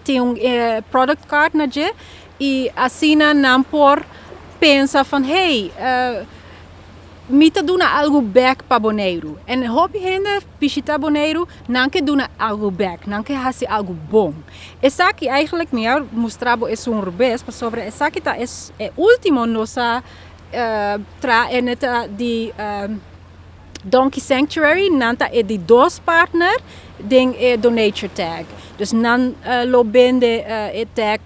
tin un product card na dje y asina nan por pensa van hey mi ta duna algo back pa Boneiru en hopi hende bishita Boneiru nan ke duna algo back nan ke haci algo bon esaki eigenlijk mi a mustra bo e sunger bes pasobra esaki ta e ultimo nos a traha ene ta di. Donkey Sanctuary nan ta e di dos partner den e Donature Tag. Dus nan lo bende e tag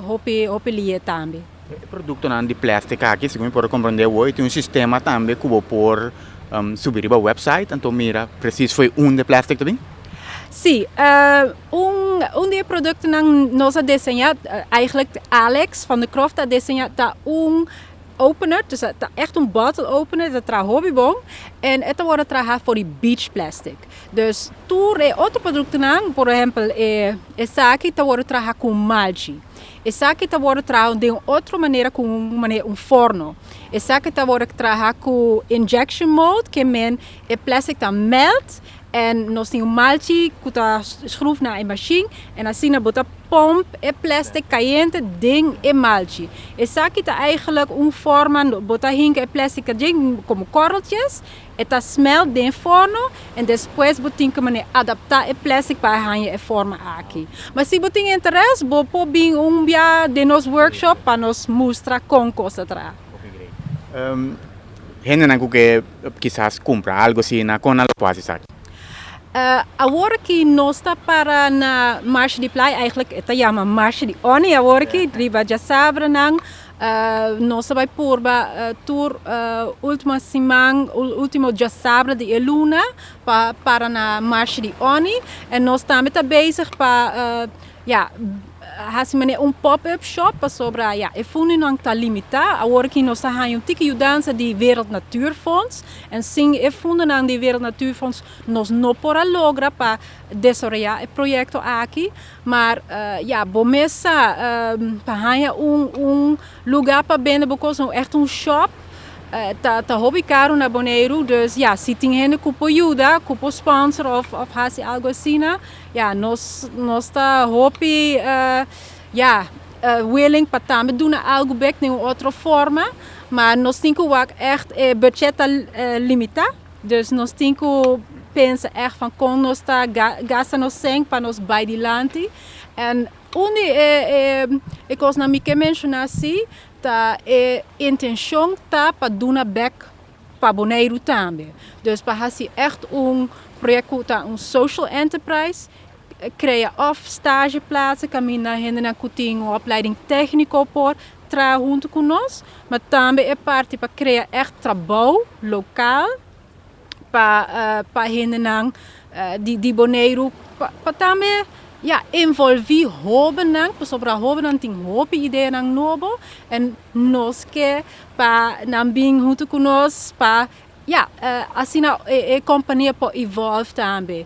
hopi hopi lie tambe. E produktonan di plèstik aki, segun mi por a komprende awo, e tin un sistema tambe ku bo por subi riba wèpsait anto mira presis fo'i un di e plèstik ta bin? Sí. Un di e produktonan nos a deseñá, aighlik Alex van der Croft a deseñá, ta un. Opener, dus a ta ègt un bottle opener, e ta traha hopi bon en e ta wòrdu traha for di beach plastic. Dus tur e otro produktonan, por ehèmpel e esaki ta wòrdu traha ku un malchi, esaki ta wòrdu traha den un otro manera ku un manera un forno, esaki ta wòrdu traha ku injection mold, ke men e plastic ta mèlt En nos tin un malchi cu ta schruf na e mashin en asina bo ta pump e plastic cayente den e malchi. Esaki ta eigenlijk un forma no bo ta hinca e plastic ta djen como korreltjes, e ta smelt den forno en despues bo tin ke mane adapta e plastic pa e hanja e forma aki. Ma si bo tin interes bo por bin un bia den nos workshop pa nos mustra con cos ta traha. Hendenan ku ke kisas kumpra algu asina, kon nan lo por hasi esaki? Awor aki nos ta para na Marsh di Playa, eigenlijk e ta yama Marsh di Oni awor aki, riba djasabrenan. Nos ta bai purba tur ultima siman, ultimo djasabre di e luna pa para na Marsh di Oni. En nos tambe ta bezig pa, ya. Hasi manera un pop-up shop pasobra ya e fundonan ta limitá. Awor aki nos ta haña un tiki yudansa di Wereld Natuur Fonds en sin e fundonan di Wereld Natuur Fonds nos no por a logra pa desaroyá e proyekto aki. Mar ya bo mes sa pa haña un lugá pa bende bo kos, un ègt un shop ta hopi karu na Boneiru. Dus ya si tin hende ku por yuda, ku por sponsor òf hasi algu asina Ya, nos nos ta hopi ya willing pa tambe duna algu bek den un otro forma, ma nos tin ku wak ègt e buchèt ta limitá, dus nos tin ku pensa ègt van kon nos ta gasta nos sèn pa nos bai dilanti. En un di e e kosnan mi ke menshoná si ta e intenshon ta pa duna bèk. pa Boneiru tambe. Dus pa hasi ègt un projèkt ku ta un social enterprise, krea òf stasjeplats kaminda hendenan ku tin un opleiding tèkniko por traha huntu ku nos, ma tambe e parti pa krea ègt trabou lokal pa pa hendenan di di Boneiru pa tambe ya envolví hobennan pasobra hobennan tin hopi ideanan nobo en nos ke Pa nan bin huntu ku nos pa ya asina e kompania por evolve tambe.